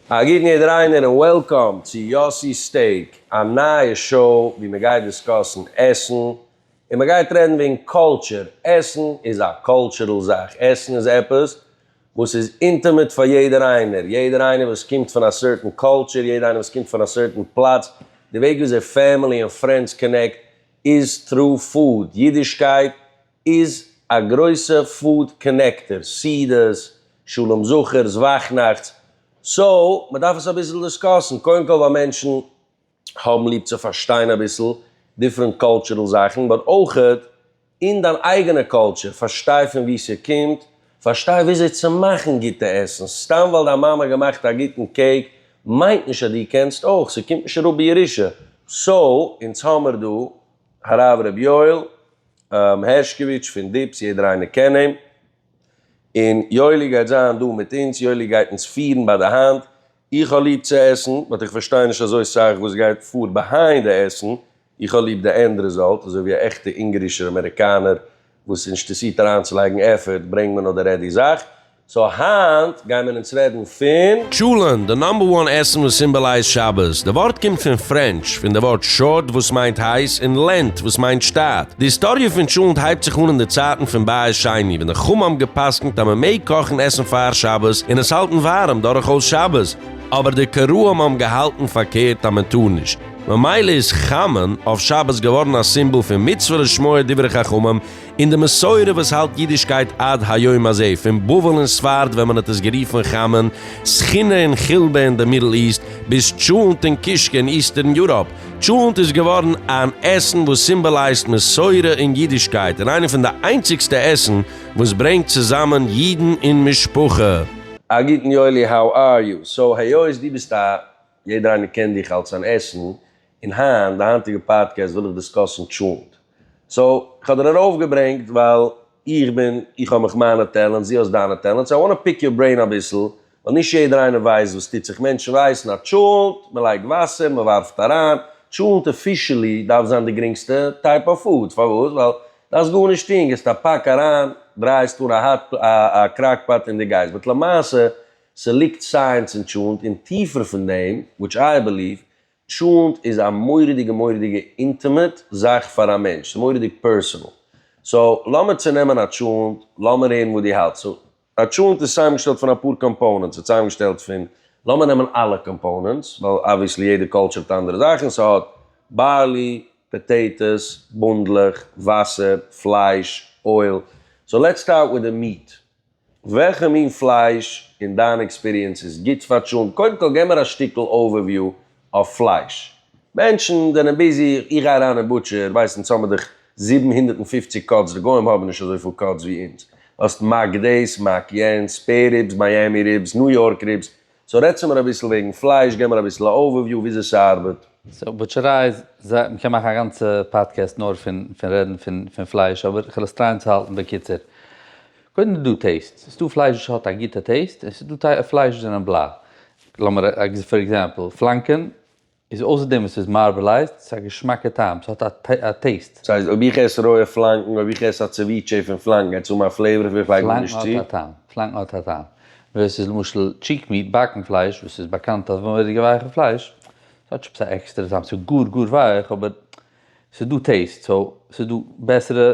א גוטן איד ריינער און וועלקאם צו יאסי'ס סטעיק, א נייע שאו ווי מען גייט דיסקאסן עסן און מען גייט רעדן וועגן קאלטשער, עסן איז א קאלטשערל זאך, עסן איז עפעס וואס איז אינטימעט פאר יעדער איינער, יעדער איינער וואס קומט פון א סערטען קאלטשער, יעדער איינער וואס קומט פון א סערטען פלאץ, די וועג וויאזוי פעמילי און פרענדס קאנעקט איז טרו פוד, אידישקייט איז א גרויסע פוד קאנעקטער, סידיס, שלום זכר'ס, וואכנאכט'ס, סאו מ'דארף עס אביסל דיסקאסן, קודם כל ווייל מענטשן האבן ליב צו פארשטיין אביסל דיפרענט קאלטשורעל זאכן, באט אויך אין דיין אייגענע קאלטשור, פארשטיי פון וואו ס'קומט, פארשטיי וויאזוי צו מאכן גוטע עסן, סתם ווייל דיין מאמע האט געמאכט א גוטן קעיק מיינט נישט אז דו קענסט אויך, ס'קומט נישט אראפ בירושה, סאו אונז האמיר דא הרב ר' יואל. הערשקאוויטש פון דיפס, יעדער איינער קען אים, און יואלי גייט זיין דא מיט אונז, יואלי גייט אונז פירן ביי די האנט, איך האב ליב צו עסן, באט איך פארשטיי נישט אזוי סאך וואס גייט פאר ביהיינד די עסן, איך האב ליב די ענד רעזאלט, אזוי ווי א עכטע אונגארישער אמעריקאנער וואס עס אינטערסירט אריינצולייגן עפערט, ברענג מיר נאר די רעדי זאך, סאו היינט גייען מיר אונז רעדן פון. טשולענט, די נאמבער וואן עסן וואס סימבאלייזט שבת. די ווארט קומט פון פרענטש, פון די ווארט שאוט וואס מיינט הייס, און לענט וואס מיינט שטאט. די היסטאריע פון טשולענט הייבט זיך אן אין די צייטן פון בית שני, ווען די חמ א האבן גע'פסק'נט אז מען מעג קאכן עסן פאר שבת און עס האלטן ווארעם דורכאויס שבת, אבער די קראים האבן געהאלטן פארקערט אז מען טאר נישט, ממילא איז חמין אויף שבת געווארן א סימבאל פון מצוה לשמוע דברי חכמים, און די מסורה וואס האלט אידישקייט עד היום הזה, פון בבל און ספרד ווען מען האט עס גערופן חמען, סכינא און חילבא אין די מידל איסט, ביז טשולענט און קישקע אין איסטערן יוראפ. טשולענט איז געווארן אן עסן וואס סימבאלייזט מסורה און אידישקייט, און איינע פון די איינציגסטע עסן וואס ברענגט צוזאמען אידן און משפחה. א גוטן יואלי, האו אר יו? סאו היות דו ביסט א, יעדער איינער קען דיך אלס אן עסן, און היינט, די היינטיגע פאדקעסט וויל איך דיסקאסן טשולענט. סאו, איך האב דיר ארויף געברענגט ווייל איך בין, איך האב מיך מיינע טעלענטס, דו האסט דיינע טעלענטס, איי וואנט טו פיק יור ברעין אביסל, ווייל נישט יעדער איינער ווייסט וואס טוט זיך, מענטשן ווייסן אז טשולענט, מען לייגט וואסער, מען ווארפט אריין, טשולענט אפישעלי דארף זיין די גרינגסטע טייפ אוו פוד, פארוואס? ווייל דארפסט גארנישט טון, גיבסט א פאק אריין, דרייסט אן א האט, א קראק פאט און דו גייסט, באט למעשה, ס'ליגט סייענס אין טשולענט, און טיפער פון דעם, וויטש איי בעליוו, טשולנט איז א מורא'דיגע מורא'דיגע אינטימעט זאך פאר א מענטש, ס'איז מורא'דיג פערסענעל. סאו לאמיר צונעמען א טשולנט, לאמיר הערן וואס דו האלטסט. סאו א טשולנט איז צוזאמגעשטעלט פון אפאר קאמפאונענטס, ס'איז צוזאמגעשטעלט פון, לאמיר נעמען אלע קאמפאונענטס, ווייל אבוויעסלי יעדע קולטשור האט אנדערע זאכן, ס'האט בארלי, פאטעיטאס, בונדלעך, וואסער, פלייש, אויל, סאו לעטס סטארט וויט די מיעט, וועלכע מין פלייש אין דיין עקספיריענס איז גוט פאר טשולנט? קודם כל גיב מיר א שטיקל אווערוויו אויף פלייש. מענטשן זענען ביזי, איך גיי אריין אין בוטשער, ווייסט אונז האמיר דאך זיבן הונדערט און פֿופֿציק קאטס, די גוים האבן נישט אזויפיל קאטס ווי אונז. האסט מעק דעיס, מעק יענס, ספעיר ריבס, מיאמי ריבס, ניו יארק ריבס, סאו רעדטס מיר אביסל וועגן פלייש, געב מיר אביסל א אווערוויו וויאזוי ס'ארבעט. סאו בוטשעריי איז, זיי, מ'קען מאכן א גאנצע פאדקעסט נאר פון פון רעדן פון פון פלייש, אבער כ'וועל עס טרייען צו האלטן בקיצור. קודם איז דא טעיסט, ס'איז דא פלייש וואס האט א גוטע טעיסט, און ס'איז דא פלייש וואס זענען בלאַ. לאמיר פאר עקזעמפל, פלאנקען איז אויסער דעם וואס ס'איז מארבעלייזד, ס'איז א געשמאקע טעם, ס'האט א טעיסט. ס'הייסט אויב איך עס רויע פלאנקן, אויב איך עס א צעוויטשעי פון פלאנקן העט עס האבן א פלעיווער וואס איך לייג מיר נישט צו. פלאנקן האט א טעם, פלאנקן האט א טעם, ווער ס'איז למשל טשיק מיעט, באקן פלייש, וואס איז באקאנט אז מורא'דיגע ווייכע פלייש, ס'האט שוין עפעס א עקסטערע טעם, ס'איז גאר גאר ווייך אבער ס'איז דא טעיסט, סאו ס'איז דא בעסערע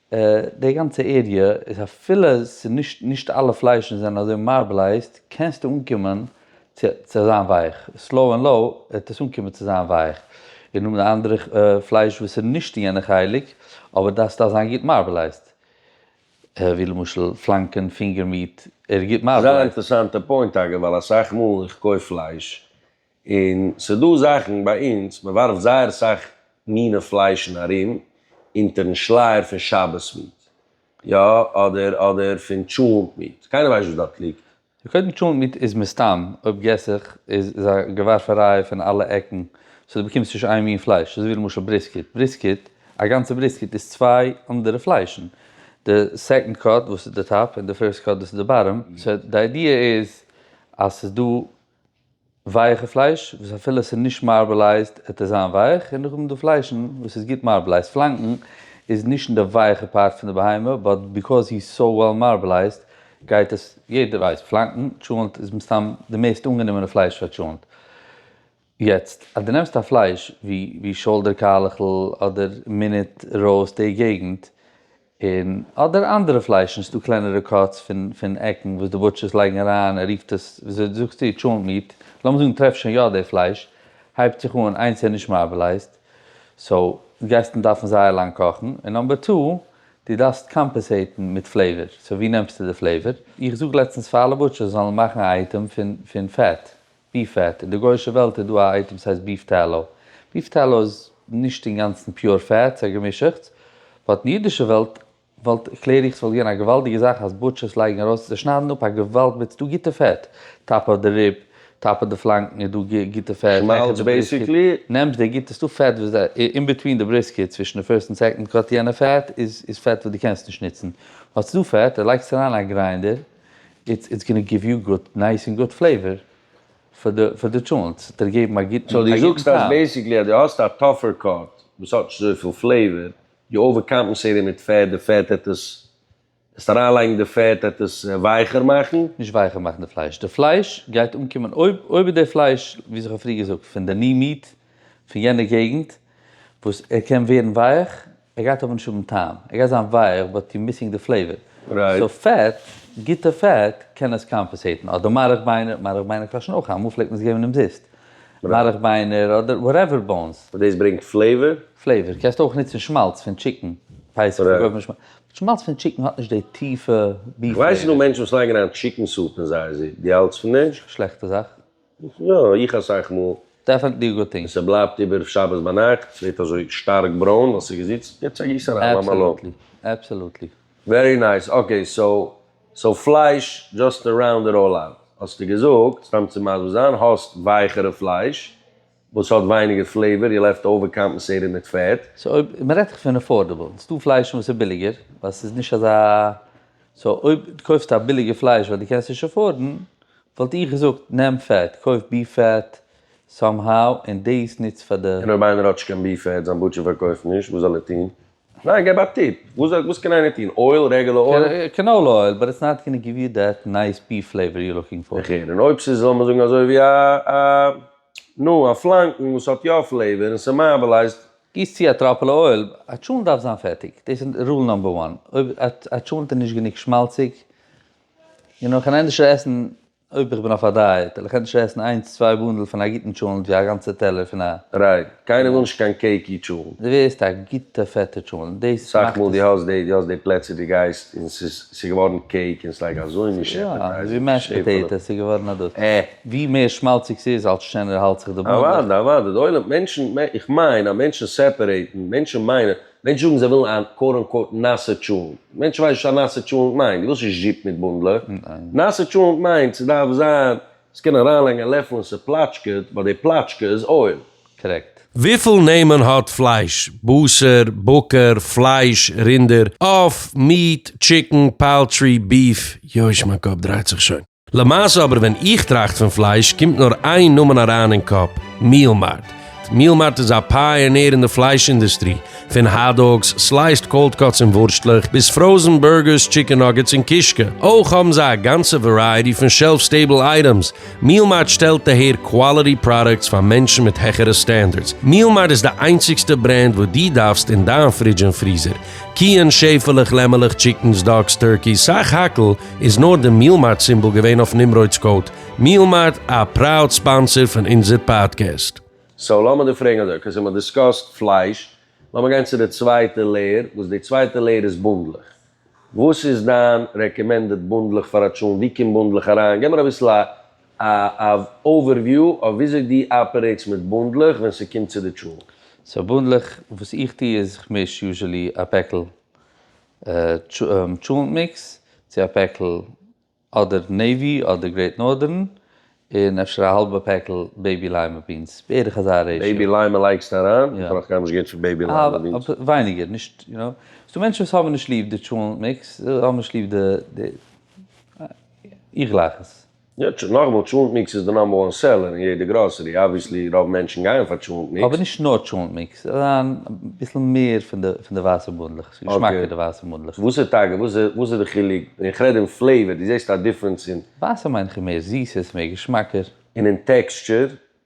די גאנצע עריע איז אפילו ס'איז נישט נישט אלע פליישן זענען אזוי מארבלייזד קענסטו אנקומען צו צו זיין ווייך סלאו ענד לאו וועט עס אנקומען צו זיין ווייך און האבן די אנדערע פלייש וואס איז נישט אין יענע חלק אבער דארף סטייל זיין גוט מארבלייזד ווי למשל פלאנקען פינגער מיעט ער איז גוט מארבלייזד. זייער אינטערעסאנטע פוינט אגב ווייל אסאך מאל איך קויף פלייש און ס'דא זאכן ביי אונז, מ'ווארפט זייער אסאך מיני פליישן ארום אונטערן שלייער פון שבת מיט, יא, אדער אדער פון טשולענט מיט, קיינער ווייסט וואס דארט ליגט. קודם טשולענט מיט איז מסתם, אויב געס איך, איז איז א געווארפעריי פון אלע עקן, סאו דו באקומסט נישט איין מין פלייש, אזויווי למשל בריסקיט, בריסקיט, א גאנצע בריסקיט איז צוויי אנדערע פליישן, די סעקאנד קאט וואס איז די טאפ און די פירסט קאט וואס איז די באטאם, סאו די איידיע איז אז ס'איז דא ווייכע פלייש וואס אפילו עס איז נישט מארבעלייזד עט עס זיין ווייך און נאכדעם די פליישן וואס איז גוט מארבעלייזד פלאנקן איז נישט אין די ווייכע פארט פון די בהמה באט ביקאוז הי איז סאו וועל מארבעלייזד גייט עס יעדער ווייסט פלאנקן טשולענט איז מסתם די מערסט אנגענומענע פלייש פאר טשולענט יעצט אז די נעמסט א פלייש ווי ווי שאלדער קאלעכל אדער מינוט ראוסט די געגנט און אדער אנדערע פליישן, ס'דא קלענערע קאטס פון פון עקן וואס די בוטשערס לייגן אריין, ער רופט עס, וויאזוי דו זאגסט דיר, טשולענט מיעט, לאמיר זאגן טרעף שוין יא די פלייש, הייבט זיך אן, איינס איז נישט מארבעלייזט, סאו, גייסט און דארפן זייער לאנג קאכן, און נאמבער טו, דו דארפסט קאמפעסעיטן מיט פלעיווער, סאו ווי נעמסטו די פלעיווער? איך זאג לעצטנס פאר אלע בוטשערס זיי זאלן מאכן א אייטעם פון פון פעט, ביף פעט, אין די גוישע וועלט איז דא א אייטעם ס'הייסט ביף טעלאו. ביף טעלאו איז נישט אינגאנצן פיור פעט, ס'איז א געמישעכטס. באט אין אידישע וועלט וואלט, קלער איך, ס'וואלט געווען א געוואלדיגע זאך אז בוטשערס לייגן ארויס, זיי שניידן אפ א געוואלד מיט, ס'דא גוטע פעט, טאפ אויף די ריב, טאפ אויף די פלאנקן איז דא גוטע פעט, שמאלץ בעיסיקלי. נעמסט די גוטע, ס'דא פעט וואס אין ביטווין די בריסקעט, צווישן די פירסט און סעקאנד קאט יענע פעט איז פעט וואס דו קענסט נישט נוצן. באט ס'דא פעט, לייגסט אריין א גריינדער. איטס איטס גאנא גיוו יו גוט נייס און גוט פלעיווער פאר די פאר די טשולענט, ס'וועט דיר געבן א גוטן א גוטן טעם. סאו דו זאגסט אז בעסיקלי אז דו האסט א טאפער קאט וואס האט נישט אזויפיל פלעיווער, דו אווער קאמפענסעיטער מיט פעט, די פעט העט עס, וועסט אריינלייגן די פעט העט עס ווייכער מאכן? נישט ווייכער מאכן די פלייש, די פלייש גייט אנקומען אויב אויב איז די פלייש ווי איך האב פריער געזאגט פון די ני מיעט פון יענע געגנט וואס ער קען ווערן ווייעך, ער גייט אבער נישט האבן טעם, ער גייט זיין ווייעך באט יו מיסינג די פלעיווער. סאו פעט, גוטע פעט, קען עס קאמפעסעיטן. אדער מארך ביינער, מארך ביינער קאשן אויך, אמאל פלעגט מען עס געבן אומזיסט. מארך ביינער אדער וואטעווער באונס. און דאס ברענגט פלעיווער? פלעיווער, קענסט אויך נוצן שמאלץ פון טשיקן, פייסעך פון געבן שמאלץ, באט שמאלץ פון טשיקן האט נישט די טיפע ביף פלעיווער. איך ווייס ס'דא מענטשן וואס לייגן אריין טשיקן סופ אין זייער זופ, דו האלטס פון דעם? שלעכטע זאך. יא, איך אסאך מאל. דעפענטלי א גוד טינג. און ס'בלייבט איבער שבת ביינאכט, ס'ווערט אזוי שטארק ברוין ווייל ס'איז געזיצט, יעצט א גיס אריין, למה לא. עבסעלוטלי, עבסעלוטלי. ווערי נייס, אקעי סאו סאו פלייש דזשאסט טו ראונד איט אלל אוט, האסטו געזאגט, סתם צו מסביר זיין, האסט ווייכערע פלייש וואס האט ווייניגער פלעיווער, יעל העלפט אווערקאמפענסעיטען מיט פעט. סאו אויב, מען רעדט דאך פון עפארדעבל, עס איז דא פליישן וואס איז ביליגער, ווייל עס איז נישט אזא, סאו אויב דו קויפסט א ביליגע פלייש ווייל דו קענסט נישט עפארדן, וואלט איך געזאגט נעם פעט, קויף ביף פעט, סאם האו, און דאס נוץ פאר די. און אויב איינער האט נישט קיין ביף פעט, זיין בוטשער פארקויפט נישט, וואס זאל ער טון? ניין געב א טיפ, וואס קען איינער טון, אויל, רעגעלע אויל? קענאולע אויל, באט איטס נאט גאנע גיוו יו דעט נייס ביעף פלעיווער יו לוקינג פאר. איך הער, און אויב ס'איז זאל מען זאגן אזוי ווי א א נו א פלאנקן וואס האט יא פלעיווער און ס'מאבעלייזט. גיס צו א טראפעלע אויל, א טשולנט דארף זיין פעטיג, דאס איז רול נאמבער וואן, אויב א טשולנט איז נישט גענוג שמאלציג, און נאך אן אינדישער עסן אויב איך בין אויף א דייעט וועל איך ענדערש עסן איינס צוויי באנדל פון א גוטן טשולנט ווי א גאנצע טעלער פון א. רייט. קיינער וויל נישט קיין קעיקי טשולנט. די ווערסט א גוטע פעטע טשולנט דאס מאכט עס. אסאך מאל די האסט די די האסט די פלעצער די גייסט און ס'איז ס'איז געווארן קעיק און ס'איז לייק אזוי נישט עפעטייזינג. ווי מעשט פאטעיטאס איז געווארן א דאס. עה. ווי מער שמאלציג ס'איז אלס שענער האלט זיך די באנדל. אוואדע אוואדע די עולם מענטשן איך מיין אז מענטשן סעפערעיטן מענטשן מיינען מענטשן זאגן זיי ווילן א קוואט אן קוואט נאסע טשולענט. מענטשן ווייסן נישט וואס א נאסע טשולענט מיינט. דו ווילסט נישט זשיפ מיט בונדלעך. נאסע טשולענט מיינט ס'דארף זיין עס קען אריינלייגן א לעפל און ס'פלאטשקעט ווייל די פלאטשקע איז אויל. קרעקט. וויפיל נעמען האט פלייש? בשר, בקר, פלייש, רינדער, עוף, מיעט, טשיקן, פאלטרי, ביעף, יויש מיין קאפ דרייט זיך שוין. למעשה אבער ווען איך טראכט פון פלייש קומט נאר איין נאמען אריין אין קאפ, מיעל מארט. מיעל מארט איז א פייענער אין די פלייש אינדוסטרי, פון האט-דאגס, סלייסד קאלד קאטס און ווארשטלעך, ביז פראזן בורגערס, טשיקן נאגעטס און קישקע. אויך האבן זיי א גאנצע ווערייעטי פון שעלף סטעיבל אייטעמס. מיעל מארט שטעלט אהער קוואליטי פראדוקטס פאר מענטשן מיט העכערע סטענדערדס. מיעל מארט איז די איינציגסטע ברענד וואס דו דארפסט אין דיין פרידזש און פריזער. קיען, שעפעלעך, לעמעלעך, טשיקנס, דאגס, טורקי, סך הכל, איז נאר די מיעל מארט סימבאל געווען אויף נמרוד'ס קאוט, מיעל מארט א פראוד ספאנסער פון אונזער פאדקעסט. סאו לאמיר דיר פרעגן אזוי, אקעי סאו מ'האט דיסקאסט פלייש, לאמיר גיין צו די צווייטע לעיער, וואס די צווייטע לעיער איז בונדלעך, וואס איז דיין רעקעמענדעד בונדלעך פאר א טשולנט, ווי קומט בונדלעך אריין, געב מיר אביסל א א אווערוויו אויף וויאזוי דו אפערעיטס מיט בונדלעך ווען ס'קומט צו די טשולנט. סאו בונדלעך, וואס איך טו איז כ'מיש יוזשעלי א פעקל טשולענט מיקס צו א פעקל אדער נעיווי אדער גרעיט נארדערן, און אפשר א האלבע פעקל בעיבי ליימע בינס, בערך אזא רעישאו. בעיבי ליימע לייגסטו אריין? איך ברויך גארנישט געבן פון בעיבי ליימע בינס. ווייניגער, נישט, יו נאו, ס'דא מענטשן וואס האבן נישט ליב די טשולענט מיקס, האבן נישט ליב די, איך גלייך עס. יעצט שוין נאכמאל, טשולענט מיקס איז די נאמבער וואן סעלער אין יעדע גראסערי, אבוויעסלי רוב מענטשן גייען פאר טשולענט מיקס. אבער נישט נאר טשולענט מיקס, אריין אביסל מער פון די פון די ווייסע בונדלעך, ס'איז געשמאקער די ווייסע בונדלעך. וואס איז טאקע וואס איז וואס איז די חילוק, און איך רעד אין פלעיווער, דו זעסט א דיפרענס אין. ווייסע מיין איך איז מער זיס, עס איז מער געשמאקער. און אין טעקסטשער,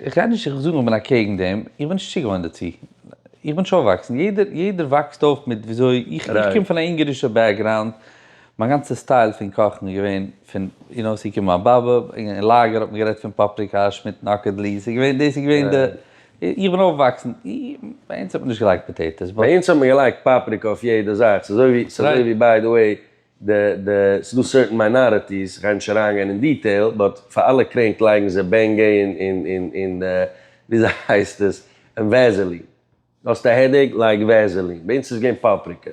איך רעד נישט איך זאג איך בין אקעגן דעם, איך בין נישט צוגעוואוינט דערצו, איך בין נישט אויפוואקסן, יעדער יעדער וואקסט אויף מיט וויאזוי, איך איך קום פון א אונגארישע בעקגראונד, מיין גאנצע סטייל פון קאכן איז געווען פון, איר נאו, עס איז געקומען מיין באבע, אין לאגער האט מען גערעדט פון פאפריקא, שמיטן אקעדלי, עס איז געווען דאס איז געווען די, איך בין אויפוואקסן, ביי אונז האט מען נישט געלייגט פאטעיטאס, ביי אונז האט מען געלייגט פאפריקא אויף יעדע זאך, ס'איז אזוי ווי, ס'איז אזוי ווי ביי די וועי די די ס'איז דא סערטען מיינאריטיס, כ'גיי נישט אריינגיין אין דיטעיל, באט פאר אלע קרענק לייגן זיי בענגעי און און און און וויאזוי הייסט עס? און וועזעלין. האסט א העדעיק? לייג וועזעלין. ביי אונז איז געווען פאפריקע.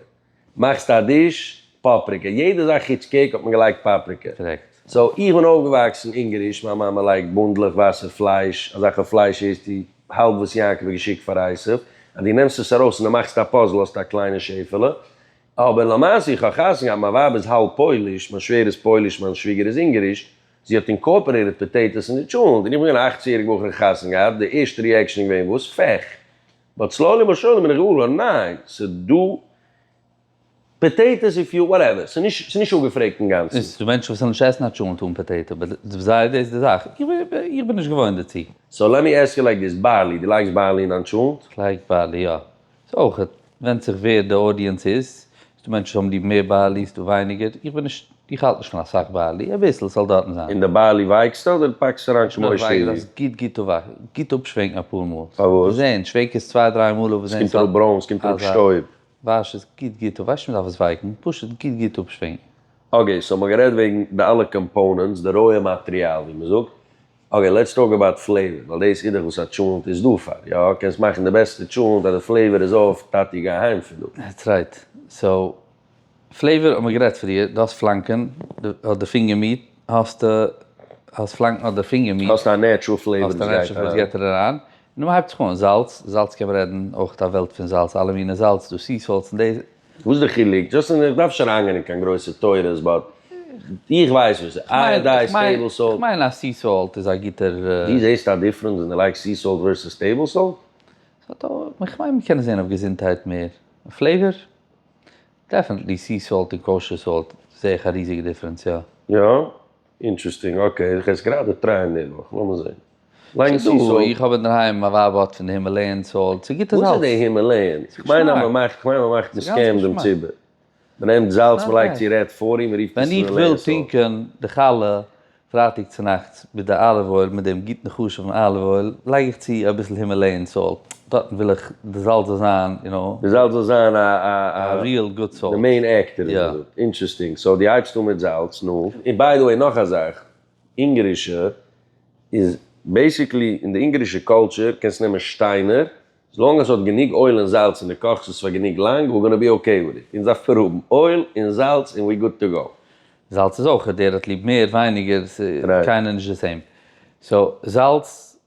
מאכסט א דיש? פאפריקע. יעדע זאך חוץ קעיק האט מען געלייגט פאפריקע. קרעקט. סאו איך בין אויפגעוואקסן אונגעריש, מיין מאמע לייגט בונדלעך ווייסע פלייש, אזעלכע פלייש איז די האלב וואס יעקב האט געשיקט פאר עשיו, אז דו נעמסט עס ארויס און דו מאכסט א פאזל האסטו א קליינע שעפעלע, אבער למעשה איך האב חתונה געהאט מיין ווייב איז האלב פויליש, מיין שווער איז פויליש מיין שוויגער איז אונגעריש, זי האט אינקארפערעיטעד פאטעיטאס אין די טשולענט, און איך בין געווען א אכצן יעריג בחור און חתונה געהאט, די ערשטע ריעקשן איז געווען וואס פעך? באט סלאולי באט שורלי בין איך געוואר געווארן ניין, ס'דא פאטעיטאס איף יו וואטעווער, ס'איז נישט אפגעפרעגט אינגאנצן. ס'דא מענטשן וואס וועלן נישט עסן א טשולענט אן פאטעיטא, באט פאר זיי איז דאס די זאך, איך בין נישט געוואוינט דערצו. סאו לעט מי עסק יו לייק דיס, בארלי, דו לייגסט בארלי אין דיין טשולענט? כ'לייג בארלי יא. ס'איז אויך, ווענדט זיך ווער די אודיענס איז, ס'דא מענטשן וואס האבן ליב מער בעלי ס'דא ווייניגער, איך בין נישט, איך האלט נישט פון אסאך בעלי, אביסל ס'זאל דארטן זיין. און די בעלי ווייקסטו אדער פאקסט אריין שמעוש און ווי? גוט גוט גוט אפשווענקן אפאר מאל. פארוואס? זעהן, שווענק עס צוויי דריי מאל אויב זעהן ס'האט אזא. ס'קומט אראפ ברוין, ס'קומט אראפ שטויב. וואש עס גוט גוט אפ, ווייסט נישט מ'דארף עס ווייקן, פשוט גוט גוט אפשווענקן. אקעי, סאו מ'האט גערעדט וועגן די אלע קאמפאונענטס, די רויע מאטריאל ווי מ'זאגט, אקעי לעטס טאלק אבאוט פלעיווער, ווייל דאס אידעך וואס א טשולענט איז דא פאר, יא קענסט מאכן די בעסטע טשולענט אז די פלעיווער איז אויף, טאטי גיי אהיים פון דא. דעטס רייט, סאו פלעיווער האט מען גערעדט פריער, דו האסט פלאנקען אדער פינגער מיט, האסטו האסט פלאנקען אדער פינגער מיט, האסט א נעטשרול פלעיווער וואס גייט אריין, האסט א נעטשרול פלעיווער וואס גייט אריין, נו מ'הייבט זיך אן, זאלץ, זאלץ קען מען רעדן אויך א וועלט פון זאלץ, אלע מיני זאלץ, דא סי סאלטס און די. וואס איז די חילוק? דזשאסט איך דארף נישט אריינגיין אין קיין גרויסע תורות באט איך ווייס וואס איז אייאדייזד, טעיבל סאלט. איך מיין אז סי סאלט איז א גוטער. דו זעסט א דיפרענס ווען דו לייגסט סי סאלט ווערסעס טעיבל סאלט? איך מיין מ'קען עס זען אויף געזונטהייט מער. פלעיווער? דעפענטלי סי סאלט און קאושער סאלט זעה איך א ריזיגע דיפרענס יא. יא? אינטרעסטינג, אקעי, איך עס גראדע טרייען נערוואך, לאמיר זעהן. לאנג סי סאלט. איך האב אינדערהיים, מיין ווייב האט פון די הימעלעיען סאלט, ס'איז גוטע זאלץ. וואס איז די הימעלעיען? איך מיין אז מען מאכט, איך מיין מען מאכט מסכן דעם ציבור. מען נעמט זאלץ, מען לייגט צו רעד פארי, מען רופט עס הימעלעיען סאלט. ווען איך וויל טרינקען די חלה פרייטאג צונאכטס מיט די אליוו אויל, מיט דעם גוטן חשוב'ן אליוו אויל, לייג איך צו אביסל הימעלעיען סאלט. דארטן וויל איך די זאל זאל זיין יו נאו. די זאל זאל זיין א א א. א ריעל גוד סאלט. די מעין עקטער ווי מ'זאגט. אינטרעסטינג. סאו דו הייבסט אן מיט זאלץ, נו. און ביי די וועי נאך א זאך, אונגארישע איז בעיסיקלי, אין די אונגארישע קולטשער קענסט נעמען שטיינער, עס לאנג עס האט גענוג אויל און זאלץ און דו קאכסט עס פאר גענוג לאנג, ווער גאנא בי אקעי וויט איט. אונז דארף פאר האבן אויל און זאלץ און ווער גוד טו גאו. זאלץ איז אויך, דער האט ליב מער ווייניגער, עס איז קיינער נישט די סעים. סאו זאלץ.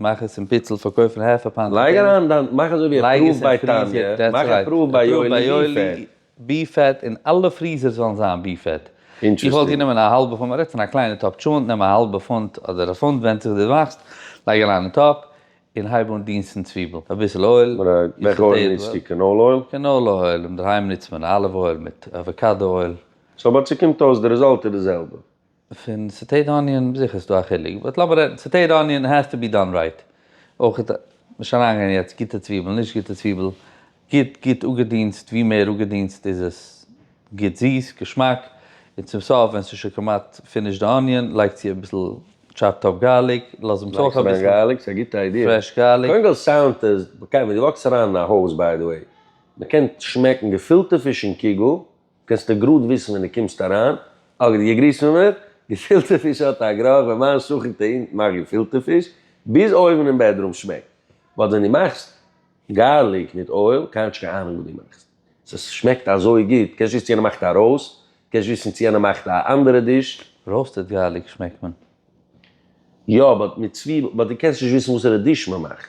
מאך עס אין פיצל פארקויפן העפע פאנט און לייג אריין דיין מאך אזוי ווי ער פרואווט ביי טאניע מאך ער פרואווט ביי יואלי בי פעט און אלע פריזערס וועלן זיין בי פעט איך וואלט גענומען א האלבע פונט מען רעדט פון א קליינע טאפ טשולענט נעם א האלבע פונט אדער א פונט ווענדט זיך ווי די מאכסט לייג אריין אין טאפ און הייב אן דינסטן צוויבל אביסל אויל וועלכע אויל ניצטו קענאלע אויל? קענאלע אויל אינדערהיים ניצט מען אליוו אויל מיט אוועקאדא אויל. סאו אבער צו קומט אויס די רעזאלט איז די זעלבע פון סעטעיט אניאן, זיכער איז דא א חילוק, באט לאמיר רעדן, סעטעיט אניאן העז טו בי דאן רייט, אויכעט נישט אריינגיין יעצט גוטע צוויבל נישט גוטע צוויבל, גוט גוט אפגעדינסט, ווי מער אפגעדינסט איז עס גוט זיס, געשמאק, און צום סוף ווען ס'איז שוין כמעט פינישט די אניאן לייג צו אביסל טשאפד אפ גארליק, לאז אים צו אביסל פרעש גארליק. קענסטו גראד וויסן ווען דו קומסט אריין, אגב די געגריסט פון מיר, געפילטע פיש האט א גראך ווען מיין שכן טענה'ט איך מאך געפילטע פיש ביז אויבן אין בעדרום שמעקט, באט ווען דו מאכסט גארליק מיט אויל, כאטש קיין אהנונג וואס דו מאכסט, ס'ס שמעקט אזוי גוט, קענסט וויסן צו יענער מאכט א ראוסט, קענסט וויסן צו יענער מאכט א אנדערע דיש. ראוסטעד גארליק שמעקט מען. יא באט מיט צוויבל, באט דו קענסט נישט וויסן וואסערע דיש מ'מאכט.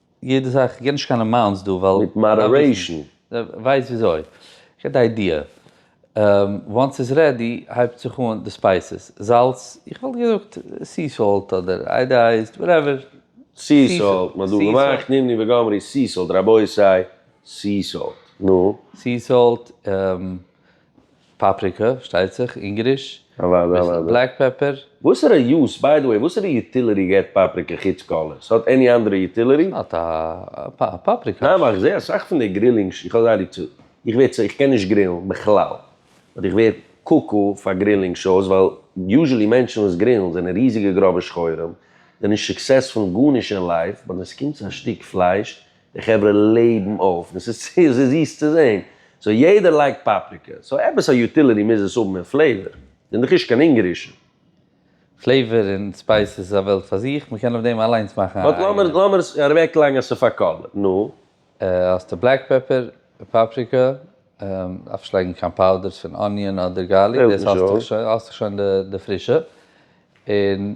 יעדע זאך, איך גיב נישט קיין אמאונטס דא ווייל. מיט מאדערעישן. ווייסט וויאזוי, איך האב די איידיע. וואנס ס'איז רעדי הייבט זיך אן די ספייסעס, זאלץ, איך וואלט געזאגט סי סאלט אדער איידעאייזד, וואטעווער. סי סאלט, מ'האט דא געמאכט נימני וגמרי סי סאלט, רבותי, סי סאלט, נו. סי סאלט, פאפריקא, פארשטייט זיך, אונגעריש, אביסל בלעק פעפער. וואסערע יוז, ביי די וועי, וואסערע יוטיליטי געט פאפריקא חוץ קאלער? ס'האט עני אנדערע יוטיליטי? ס'האט א פאפריקא. ניין ווייל איך זעה אסאך פון די גרילינג ש, איך האב זייער ליב צו, איך ווער צו, איך קען נישט גרילן בכלל, אבער איך ווער קוקו פאר גרילינג שאוס ווייל יוזשעלי מענטשן וואס גרילן זענען ריזיגע גראבע שחורים, זענען נישט סוקסעספול אין גארנישט אין לייף, באט ווען ס'קומט צו א שטיק פלייש די חברה לעבן אויף און ס'איז צו זיס צו זען. סאו יעדער לייגט פאפריקע. סאו עפעס א יוטיליטי מוז עס האבן און פלעיווער. ס'איז דאך נישט קיין אונגערישע. פלעיווער און ספייס איז א וועלט פאר זיך. מ'קען אויף דעם אליינס מאכן א אייגענע. באט לאמיר עס אוועקלייגן אז ס'איז פאר קאלער. נו. האסטו בלעק פעפער, פאפריקע, דארף נישט לייגן קיין פאודערס פון אניאן אדער גארליק, דאס האסטו שוין, האסטו שוין די פרישע, און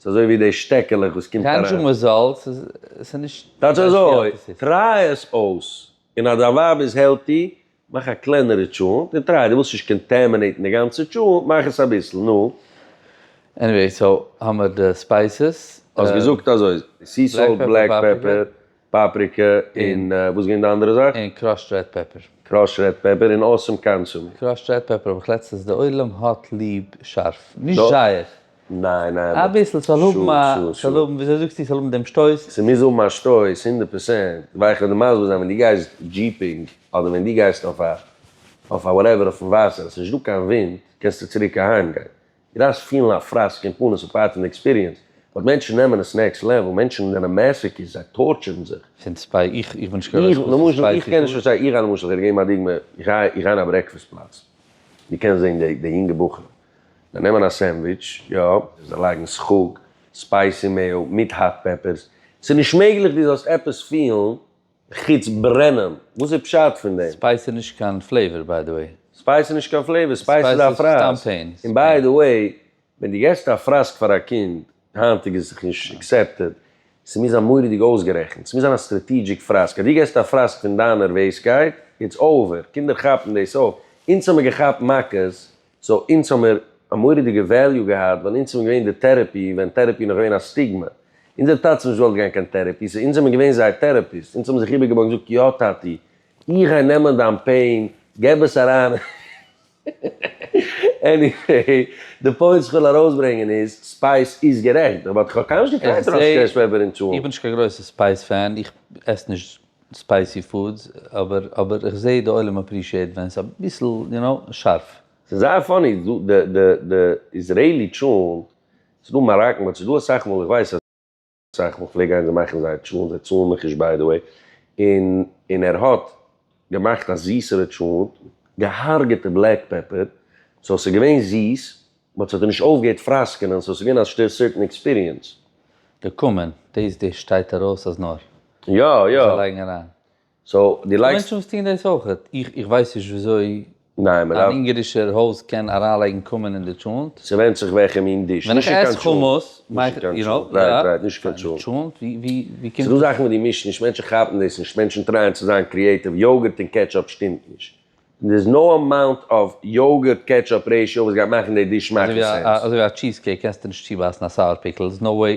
ס'איז אזוי ווי די שטעקעלעך וואס קומט אריין. קיין שום רעזאלטס, ס'איז נישט. טייטש אזוי, טריי עס אויס, און אז דיין ווייב איז העלטי, מאך א קלענערע טשולענט, און טריי, דו ווילסט נישט קאנטעמינעיטן די גאנצע טשולענט, מאך עס אביסל, נו. עניוועי, סאו האמער די ספייסעס. האסט געזאגט אזוי, סי סאלט, בלעק פעפער, פאפריקע און וואס איז געווען די אנדערע זאך? און קראשד רעד פעפער. קראשד רעד פעפער און אסאם קאנסומי. קראשד רעד פעפער האב איך לעצטענס די עולם האט ליב שארף. נישט זייער. ניין ניין. אביסל ס'זאל האבן א. שו שו שו. ס'זאל האבן וויאזוי זאגסטו ס'זאל האבן דעם שטויס. ס'מוז האבן א שטויס הונדערט פראצענט. ווייל איך וועל דיר מסביר זיין ווען דו גייסט דזשיפינג אדער ווען דו גייסט אויף א אויף א וואטעווער אויפן וואסער עס איז נישט דא קיין ווינט קענסטו צוריק אהיימגיין גראס פילן א פראסק אין פנים איז א פארט פון די עקספיריענס, באט מענטשן נעמען עס נעקסט לעוועל, מענטשן זענען מעסעקיס, זיי טארטשערן זיך. פון צוויי, איך איך בין נישט קיין איך למשל איך קען נישט פארשטיין, איך גיי למשל כ'וועל דיר געבן א דוגמא, איך גיי איך גיי אין א ברעקפעסט פלאץ, דו קענסט זען די די יונגע בחורים, זיי נעמען א סענדוויטש, יא, זיי לייגן סחוג, ספייסי מעיאו, מיט האט פעפערס, ס'נישט מעגליך דו זאלסט עפעס פילן. חוץ ברענען. וואס איז פשט פון דעם? ספייס איז נישט קיין פלעיווער ביי די וועי. ספייס איז נישט קיין פלעיווער, ספייס איז א פרייז. סתם פעין. און ביי די וועי, ווען דו געסט א פראסק פאר א קינד, היינטיג איז זיך נישט עקסעפטעד, ס'מוז זיין מורא'דיג אויסגערעכנט, ס'מוז זיין א סטראטעגיק פראסק, אז דו געסט א פראסק פון דיינער וועיסקייט, איטס אווער, קינדער כאפן דאס אויף, אונז האמיר געכאפט מכות סאו אונז האמיר א מורא'דיגע וועליו געהאט ווייל אונז זעמיר געווען די טערעפי ווען טערעפי איז נאך געווען א סטיגמע. אונזער טאטע האבן נישט געוואלט גיין קיין טערעפי סאו אונז זעמיר געווען זייער טערעפיסט. אונז האבן זיך איבערגעבויגן און געזאגט יא טאטי איך גיי נעמען דיין פעין געב עס אריין און עניוועי די פוינט וואס איך וויל ארויסברענגען איז ספייס איז גערעכט באט איך האב קיינמאל נישט געטרייט ארויס צו קעשן פעפער און צאלן. איך בין נישט קיין גרויסע ספייס פען איך עס נישט ספייסי פודס, אבער אבער איך זעה די עולם אפרישיעט ווען ס'איז אביסל יו נאו שארף. ס'איז זייער פאני איז דא די די די איזרעילי טשולנט, ס'איז דא מאראקן באט ס'איז דא אסאך מאל איך ווייס אז אסאך מאל כ'פלעג גיין זיי מאכן זייער טשולנט זיי צאלן מיך נישט ביי די וועי און און ער האט געמאכט א זיסערע טשולנט געהארגעטע בלעק פעפער סאו ס'איז געווען זיס מען האט זיך דען נישט אויפגעהערט פראסקענען, סאו ס'איז געווען א שטער סערטען עקספיריענס. געקומען, דאס דאס שטייט ארויס אז נאר. יא יא. זיי לייגן אריין. סאו דו לייגסט. ס'דא מענטשן וואס טוהן דאס אויך. איך איך ווייס נישט וויאזוי. ניין מ'דארף. אן אונגארישער הויז קען אריינלייגן קומען אין די טשולנט. ס'ווענדט זיך וועלכע מין דיש. ווען איך עס חומוס. נישט אין קיין טשולנט. רייט רייט נישט קיין טשולנט. טשולנט ווי ווי ווי קומט. ס'דא זאכן וואס דו מישט נישט, מענטשן כאפן דאס נישט, מענטשן טרייען צו זיין קריעטיוו, יאגורט און קעטשאפ שטימט נישט. און דער איז נאו אמאונט אוו יאגורט קעטשאפ רעישאו וואס גייט מאכן די דיש שמאכן סענס. אזוי ווי א טשיז קעיק קענסטו נישט צובייסן א סאוער פיקל, סאיז נאו וועי.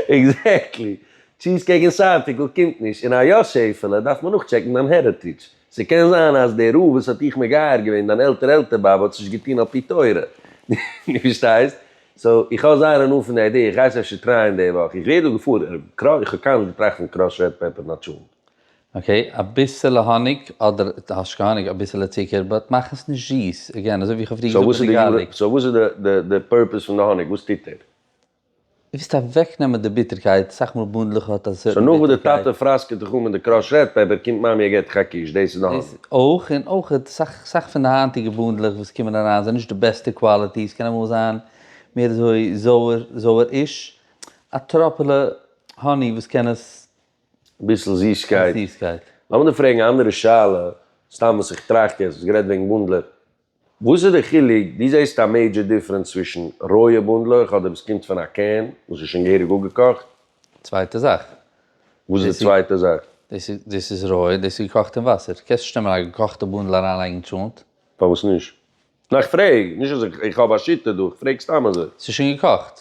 עקזעקטלי. טשיז קעיק און סאוער פיקל קומט נישט און א יא שעפעלע, דארף מען נאכטשעקן דיין העריטעדזש. ס'קען זיין אז דער רב וואס האט דיך מגייר געווען, דיין עלטער עלטער באבע האט עס נישט געטון על פי תורה. דו פארשטייסט? סאו, איך האב זייער הנאה פון די איידיע, איך גיי עס אפשר טרייען די וואך. איך ווער דא געפארעוועט. איך האב קיינמאל נישט געטראכט פון קראסד רעד פעפער נאטשאן. אקעי אביסעלע האניג אדער האשקע האניג אביסעלע צוקער באט מאך עס נישט זיס עגעין אזוי ווי איך האב פריער געזאגט מיט די גארליק. סאו וואס איז די פורפעס פון די האניג וואס טוט ער? ער וויסט אוועק נעמען די ביטערקייט, סאך מאל באנדלעך האט א סערטען ביטערקייט. סאו נאך וואס די טאטע פראסקעט זיך אן מיט די קראשט רעד פעפער קומט מאמי און געט דיך א קיש דאס איז די האניג. דאס אויך און אויך סאך סאך פון די היינטיגע באנדלעך וואס קומען אריין זענען נישט די בעסטע קוואליטי ס'קען אמאל זיין מער אזוי זויער זויער איש א טראפעלע האני וואס קען עס ביסל זיסקייט. לאמיר דיר פרעגן א אנדערע שאלה, סתם וואס איך טראכט יעצט, האסט גערעדט וועגן בונדלער, וואס איז די חילוק, דו זעסט א מעידזשער דיפרענס צווישן רויע בונדלעך אדער וואס קומט פון א קען וואס איז שוין געהעריג אפגעקאכט? צווייטע זאך. וואס איז די צווייטע זאך? דאס איז, דאס איז רויע, דאס איז געקאכט אין וואסער. קענסט נישט נעמען א געקאכטע בונדל אריינלייגן אין טשולנט. פארוואס נישט? נאר איך פרעג, נישט אז איך האב א שיטה דא, איך פרעג סתם אזוי. ס'איז שוין געקאכט.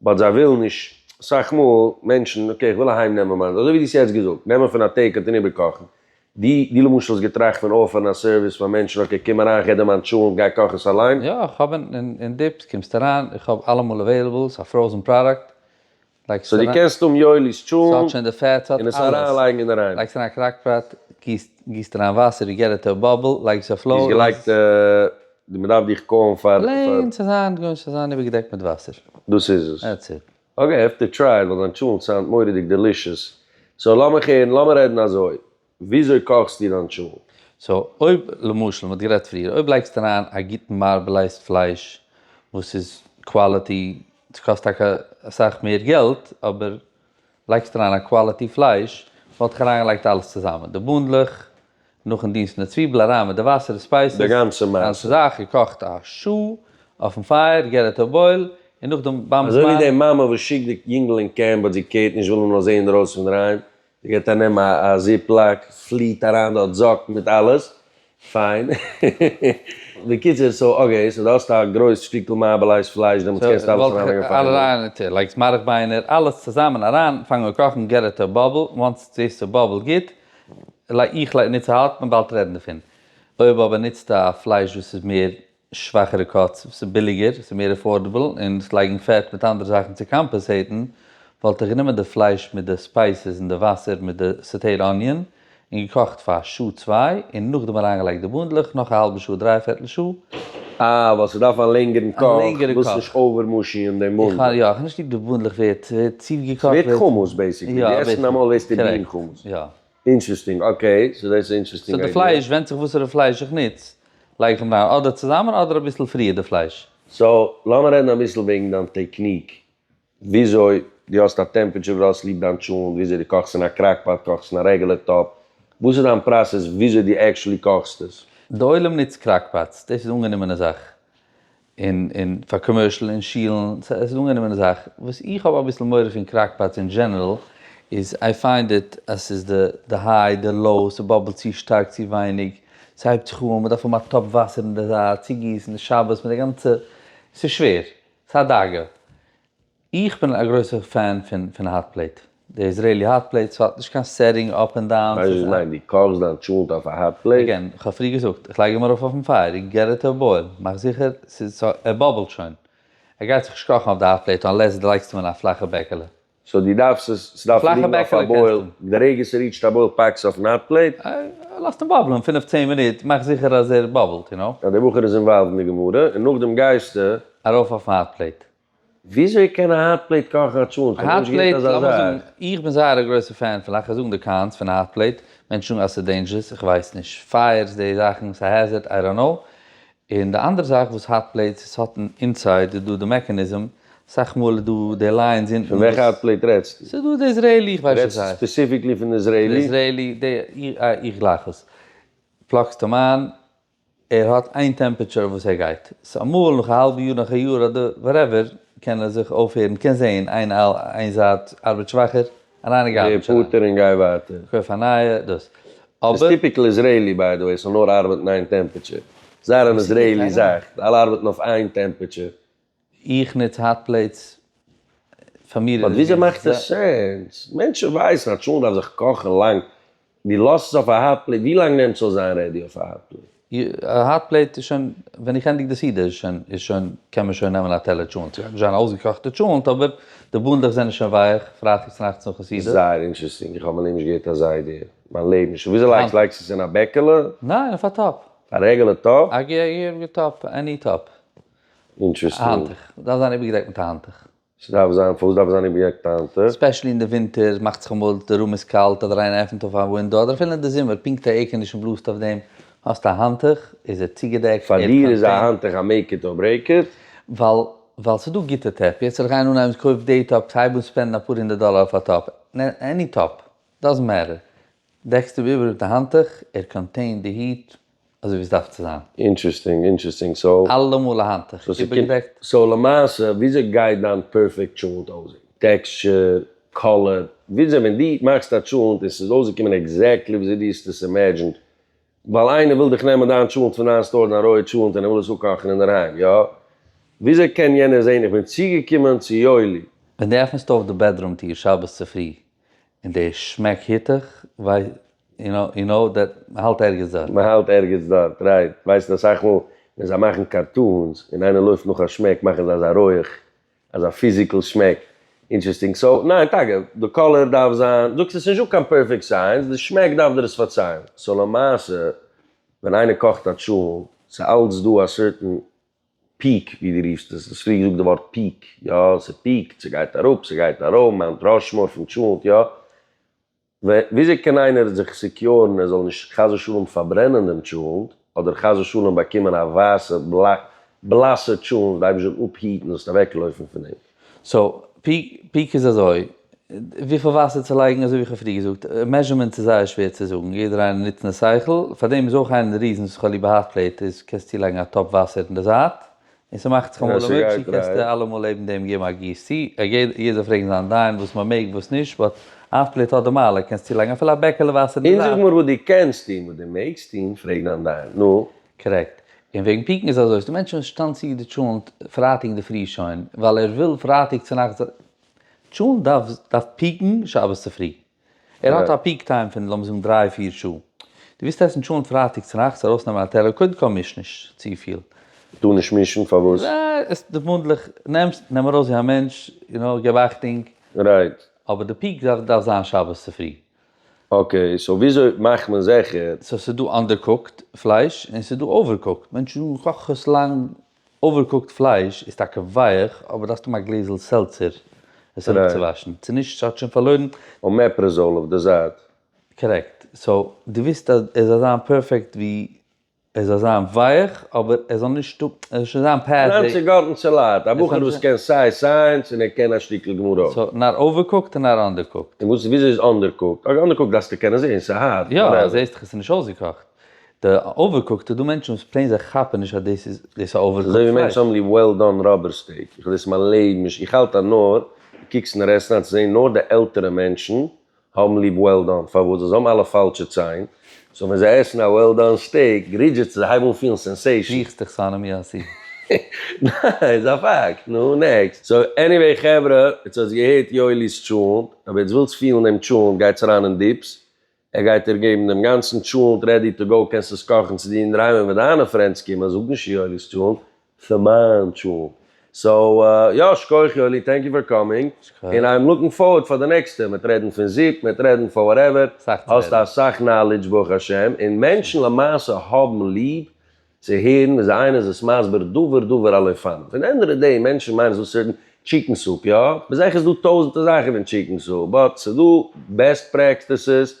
באט זיי ווילן נישט, אסאך מאל, מענטשן, אקעי, איך וויל אהיים נעמען מיינס, אזוי ווי דו האסט יעצט געזאגט, נעמען פון א טעיק אוט און איבערקאכן, דו, דו למשל האסט געטראכט פון אויפערן א סערוויס פאר מענטשן, אקעי, קום אריין, כ'גיב דיר מיין טשולענט, גיי קאך עס אליין. יא, איך האב אין, אין דיפס, קומסט אריין, איך האב אלעמאל עוועילעבל, ס'א פראוזן פראדאקט, לייגסט עס אריין. סאו דו קענסט האבן יואלי'ס טשולענט, ס'האט שוין די פעט, ס'האט אלעס, און עס אריין לייגן אינדערהיים. לייגסט אריין קראק פאט, גיסט, גיסט אריין וואסער, יו געט איט טו א באבל, לייגסט אויף לוי, לאז עס. דו האסט געלייגט די מען דארף דיך קאלן פאר. פלעין צו זיין גוי'ש צו זיין איבערגעדעקט מיט וואסער. דאס איז עס. דעטס איט. אקעי איי העוו טו טריי איט ווייל דיין טשולנט סאונד מורא'דיג דעלישעס. סאו לאמיך הערן לאמיר רעדן אזוי. וויאזוי קאכסטו דיין טשולנט? סאו אויב למשל מען האט גערעדט פריער אויב לייגסטו אריין א גוטן מארבעלייזד פלייש וואס איז קוואליטי ס'קאסט טאקע אסאך מער געלט אבער לייגסט אריין א קוואליטי פלייש, וואלט איך אריינגעלייגט אלעס צוזאמען, די בונדלעך, נאכן דינסטן די צוויבל אריין מיט די וואסער די ספייסעס, די גאנצע מעשה. זאך, געקאכט א שעה אויפן פייער, גערעדט אויף בויל, און נאכדעם באמפט מיין. אזוי ווי די מאמע וואס שיקט די יונגל אין קעמפ באט זי קערט נישט וויל אים לאזען אינדערויסן פון דערהיים, זי געט אנעם א זיפ לאק, פליט אריין דארט זאקן מיט אלעס, פיין. בקיצור, סאו אקעי, סאו דו האסט א גרויס שטיקל מארבל אייז פלייש דעמאלטס קענסטו אלעס אריין לייגן אויף א טעלער. אריין אין טעלער, לייגסט מארך ביינער אלעס צוזאמען אריין, פאנג אן קאכן, געט איט א באבל, וואנס איט זעהסט ס'איז באבלט גוט, איך לייג ניצט א האט מען באלד רעדן דערפון, אויב אבער ניצטו א פלייש וואס איז מער שוואכערע קאטס וואס איז ביליגער ס'איז מער עפארדעבל און עס לייגן פעט מיט אנדערע זאכן צו קאמפעסעיטן וואלט איך גענומען די פלייש מיט די ספייסעס און די וואסער מיט די סאטעיד אניאן און געקאכט פאר א שעה צוויי און נאכדעם אריינגעלייגט די באנדלעך נאך א האלבע שעה דריי פערטל שעה. אה ווייל ס'דארף א לענגערן קאך, ווילסט נישט אווער מאשיען דעם באנדל. איך האב נישט ליב די באנדלעך ווערט צו געקאכט. ס'ווערט חומוס בעיסיקלי, ווי עסן נארמאל עסט איר בין חומוס. אינטרעסטינג, אקעי, סאו דאס איז א אינטרעסטינג איידיע. סאו די פלייש, ווענדט זיך וואסערע פלייש איך נוץ, לייג איך אים אריין אדער צוזאמען אדער אביסל פריער די פלייש. סאו לאמיר רעדן אביסל וועגן דיין טעקניק, וויאזוי דו האסט א טעמפעטשור, דו האסט ליב דיין טשולענט, וויאזוי דו קאכסט אין א קראק פאט, קאכסט אין א רעגולער טאפ, וואס איז דיין פראסעס וויאזוי דו עקשעלי קאכסט עס? די עולם נוצט קראק פאטס, דאס איז אנגענומענע זאך, און און פאר קאמערשל און שילן, סא עס איז אן אנגענומענע זאך, וואס איך האב אביסל מורא פון קראקפאטס אין דזשענערל איז איי פיינד איט אז ס'איז די די היי די לאו, ס'באבלט צו שטארק צו ווייניג, ס'הייבט זיך אן, מ'דארף האבן א טאפ וואסער אין די זייט, צוגיסן די שבת מיט די גאנצע, ס'איז שווער, ס'איז א דאגה. איך בין א גרויסע פען פון פון האט פלעיט, די איזרעילי האט פלעיט, ס'האט נישט קיין סעטינג אפ און דאון. ווייסט וואס איך מיין? דו קאכסט דיין טשולנט אויף א האט פלעיט? אגעין, כ'האב פריער געזאגט, איך לייג אים ארויף אויפן פייער, יו געט איט טו בויל, מאך זיכער ס'איז ס ה ער באבלט שוין, ער גייט זיך נישט קאכן אויף די האט פלעיט אנלעס דו לייגסט אים אין א פלאכע בעקעלע. סאו דו דארפסט עס, ס'דארף פלאכע ליגן אויף א בעקעלע בויל, קענסטו. די רגע ס'ריעטשט א בויל פאקסט עס אויפן האט פלעיט. אה, לאזט אים באבלען פֿינף צען מינוט, מאך זיכער אז ער באבלט, יו נאו. אז דער בחור איז אינוואלווד אין די גמרא, און נאכדעם גייסטו. ארויף אויפן האט פלעיט. וויאזוי קען א האט פלעיט קאכן א טשולענט? כ'האב נאכנישט געהערט אזא זאך. איך בין זייער א גרויסע פען פון לאכן זאגן די קאנס פון א האט פלעיט, מענטשן זאגן אז ס'איז דעינזשערס, איך ווייס נישט, פייערס די זאכן, ס'איז א העזערד, איי דאנט נאו, און די אנדערע זאך וואס האט פלעיטס, עס האט אינסייד איז דא די מעקעניזם, אסאך מאל איז דא די ליינס אונטן וואס. פון וועלכע האט פלעיט רעדסטו? ס'איז דא די איזרעילי, איך ווייס נישט ווי ס'הייסט. רעדסט ספעסיפיקלי פון די איזרעילי? די איזרעילי, די, איך גלייך עס. פלאגסט אים איין, ער האט איין טעמפעטשור וואס ער גייט, סאו אמאל נאך א האלבע יאר נאך א יאר אדער וואטעווער קען ער זיך אויפהערן, קען זעהן איין איין זייט ארבעט שוואכער, א ריינע גארביטש אריין, ריפארטער און גיי ווייטער. קויף א נייע, דאס אבער. ס'איז טיפיקל איזרעילי ביי די וועי ס'זאל נאר ארבעטן איין טעמפעטשור, ס'איז זייער אן איזרעילי זאך, אלע ארבעטן אויף איין טעמפעטשור, איך נוץ האט פלעיטס פאר מיר איז עס גוט. באט וויאזוי מאכט עס סענס? מענטשן ווייסן אז טשולענט דארף זיך קאכן לאנג, דו לאזט עס אויף א האט פלעיט, ווי לאנג נעמט ס'זאל זיין רעדי אויף א האט פלעיט? א האט פלעיט איז שוין, ווען איך ענדיג די סעודה איז שוין איז שוין קען מען שוין נעמען א טעלער טשולענט, ס'גייט נישט זיין א אויסגעקאכטע טשולענט אבער די באנדלעך זענען שוין ווייעך פרייטאג צונאכטס נאכן סעודה. זייער אינטשערסטינג, איך האב מיין לעבן נישט געהערט אזא איידיע, מיין לעבן נישט, וויאזוי לייגסטו, לייגסטו עס אין א בעקעלע? ניין אויף א טאפ. א רעגעלע טאפ? א רעגעלע טאפ, עני טאפ. אינטערעסטינג. א האנטוך דארף זיין איבערגעדעקט מיט א האנטוך. ס'דארף זיין, פארוואס דארף עס זיין איבערגעדעקט מיט א האנטוך? ספעשעלי אין די ווינטער מאכט זיך אמאל די רום איז קאלט אדער איינער עפענט אויף א ווינדאו אדער אפילו אין די זומער פונקט א עירקאנדישן בלאזט אויף דעם האסט א האנטוך איז ער צוגעדעקט. פאר דיר איז א האנטוך א מעיק איט אר ברעיק איט? ווייל ווייל ס'איז דא גוטע טאפ, יעצט זאל איך גיין אנהייבן קויף די טאפ כ'הייב אן ספענדן אפאר הונדערט דאלער אויף א טאפ, עני טאפ, דאזענט מעטער, דעקסט איבער מיט א האנטוך, ער קאנטעינט די היט אזוי ווי עס דארף צו זיין. אינטרעסטינג אינטרעסטינג סאו. אלעמאל א האנטוך איבערגעדעקט. סאו למעשה וויאזוי גייט דיין פערפעקט טשולענט אויסזען? טעקסטשער? קאלער? וויאזוי ווען דו מאכסט א טשולענט און ס'איז אויסגעקומען עקזעקטלי וויאזוי דו האסט עס אימעדזשינט? ווייל איינער וויל דיך נעמען דיין טשולענט פון דיין סטאר, דיין רויע טשולענט און ער וויל עס אפקאכן אינדערהיים, יא? וויאזוי קען יענער זען איך בין צוגעקומען צו יואלי? ווען דו עפנסט אויף די בעדרום טיר שבת צופרי און די שמעק היטעך ווייסט יו נאו יו נאו דעט מ'האלט ערגעץ דארט. מ'האלט ערגעץ דארט רייט, ווייסט אסאך מאל ווען זיי מאכן קארטונס און איינער לויפט נאך א שמעק מאכן זיי אזא רויעך אזא פיזיקעל שמעק אינטרעסטינג סאו ניין טאקע די קאלער דארף זיין זאגסט עס איז נישטא קיין פערפעקט סייענס די שמעק דארף דיר עס פארציילן סאו למעשה ווען איינער קאכט א טשולנט ס'איז אלץ דא א סערטען פיעק ווי דו רופסט עס, דו האסט פריער געזאגט די ווארט פיעק, יא ס'פיעקט, ס'גייט אראפ, ס'גייט ארויף, מאונט ראשמאור פון טשולענט, יא. וויאזוי קען איינער זיך סעקיורן ער זאל נישט חס ושלום פארברענען דעם טשולענט, אדער חס ושלום באקומען א ווייסע בלאסע טשולענט, די אייבערשטער זאל אפהיטן זאלסט אוועקלויפן פון אים. סאו פיק איז אזוי, וויפיל וואסער צו לייגן אזוי ווי איך האב פריער געזאגט, מעזשערמענטס איז זייער שווער צו זאגן, יעדער איינער נוצט נאר שכל, פאר דעם איז אויך איינע פון די ריזענס וואס איך האב ליב א האט פלעיט איז קענסט צולייגן א טאפ וואסער אין די זייט, און ס'מאכט זיך אמאל א מילקשעיק קענסטו אלעמאל לעבן דעם געבן א גיסט צו, יעדער זאל פרעגן זיין דיין וואס מען מעג וואס נישט, באט האט פלעיט האט די מעלה, קענסט צולייגן אפילו א בעקעלע וואסער אין די זייט. און זאג מיר וואס דו קענסט און וואס דו מעגסט און פרעג דיין דיין, נו, קארעקט. און וועגן פיקן איז אזוי, ס'דא מענטשן וואס שטאנד צו די טשולענט פרייטאג אינדערפרי שוין, ווייל ער וויל פרייטאג צונאכטס זיין, טשולענט דארף דארף פיקן שבת צופרי, ער האט א פיק טיים פון לאמיר זאגן דריי פיר שעה, דו ווילסט עסן טשולענט פרייטאג צונאכטס ארויסנעמען א טעלער, קודם כל מיש נישט צופיל. טאר נישט מישן? פארוואס? עס די וואנדלעך, נעמסט נעם ארויס ווי א מענטש, יו נאו, געב אכטונג. רייט. אבער די פיק דארף דארף זיין שבת צופרי. אקעי, סאו וויאזוי מאכט מען זיכער? סאו ס'איז דא אנדערקוקט פלייש און ס'איז דא אווערקוקט, מענטשן קאכן עס לאנג, אווערקוקט פלייש איז טאקע ווייעך אבער דארפסט האבן א גלעזל סעלצער עס אראפצואוואשן, צו נישט האט שוין פארלוירן. אומעפרעזאול אויף די זייט. קארעקט, סאו דו וויסט אז עס זאל זיין פערפעקט ווי ער זאל זיין ווייעך, אבער ער זאל נישט האבן, ער זאל שוין זיין פערטיג. פון היינט און גארטן צו לייט, א בחור וואס קען סיי סייענס און ער קען א שטיקל גמרא. סא נאר אווערקוקט און נאר אנדערקוקט. און וואס וויאזוי איז אנדערקוקט? אויך אנדערקוקט דארפסטו קענען זעהן, סא הארט, וואטעווער. יא, זעהסט דאך עס איז נישט אויסגעקאכט. די אווערקוקט איז דא מענטשן וואס פלעין זיי כאפן נישט אז דאס איז דאס א אווערקוקט פלייש. אזוי ווי מענטשן האבן ליב וועל דאן ראבער סטעיק, איך האב דאס אין מיין לעבן נישט, איך האלט אז נאר, דו קוקסט נאר עסן היינט צו זעהן נאר די עלטערע מענטשן האבן ליב וועל דאן, פארוואס? ווייל זיי האבן אלע פאלשע ציין, סאו ווען זיי עסן א וועל דאן סטעיק, גרידזשעט זיך, זיי הייבן אן פילן סענסעישאן. ריכסט דיך צו אנעם יאסי. ניין, ס'איז א פאקט. נו, נעקסט. סאו עניוועי חברה, יעצט האסט געהערט יואלי'ס טשולענט, אויב עטס ווילטס פילן דעם טשולענט גייטס אריין אין דיפס, ער גייט דיר געבן דעם גאנצן טשולענט רעדי טו גאו, קענסט עס קאכן צו דיר אינדערהיים, און ווען דיינע פרענדס קומען, זאג נישט יואלי'ס טשולענט, פון מיין טשולענט. סאו יא, שכוח יואלי, טענק יו פאר קאמינג, און איים לוקינג פארווארד פאר די נעקסטע, מען וועט רעדן פון זופ, מען וועט רעדן פון וואטעווער, האסט אסאך נאלידזש ברוך השם, און מענטשן למעשה האבן ליב צו הערן ווען זיי איינער איז עס מסביר דבר דבר על אופניו, און ענד אוו די דעי מענטשן מיינען זאגסט ס'רעדן טשיקן סופ, יא, ביז איך עס דא טויזענטער זאכן פון טשיקן סופ, באט ס'דא בעסט פרעקסטעסעס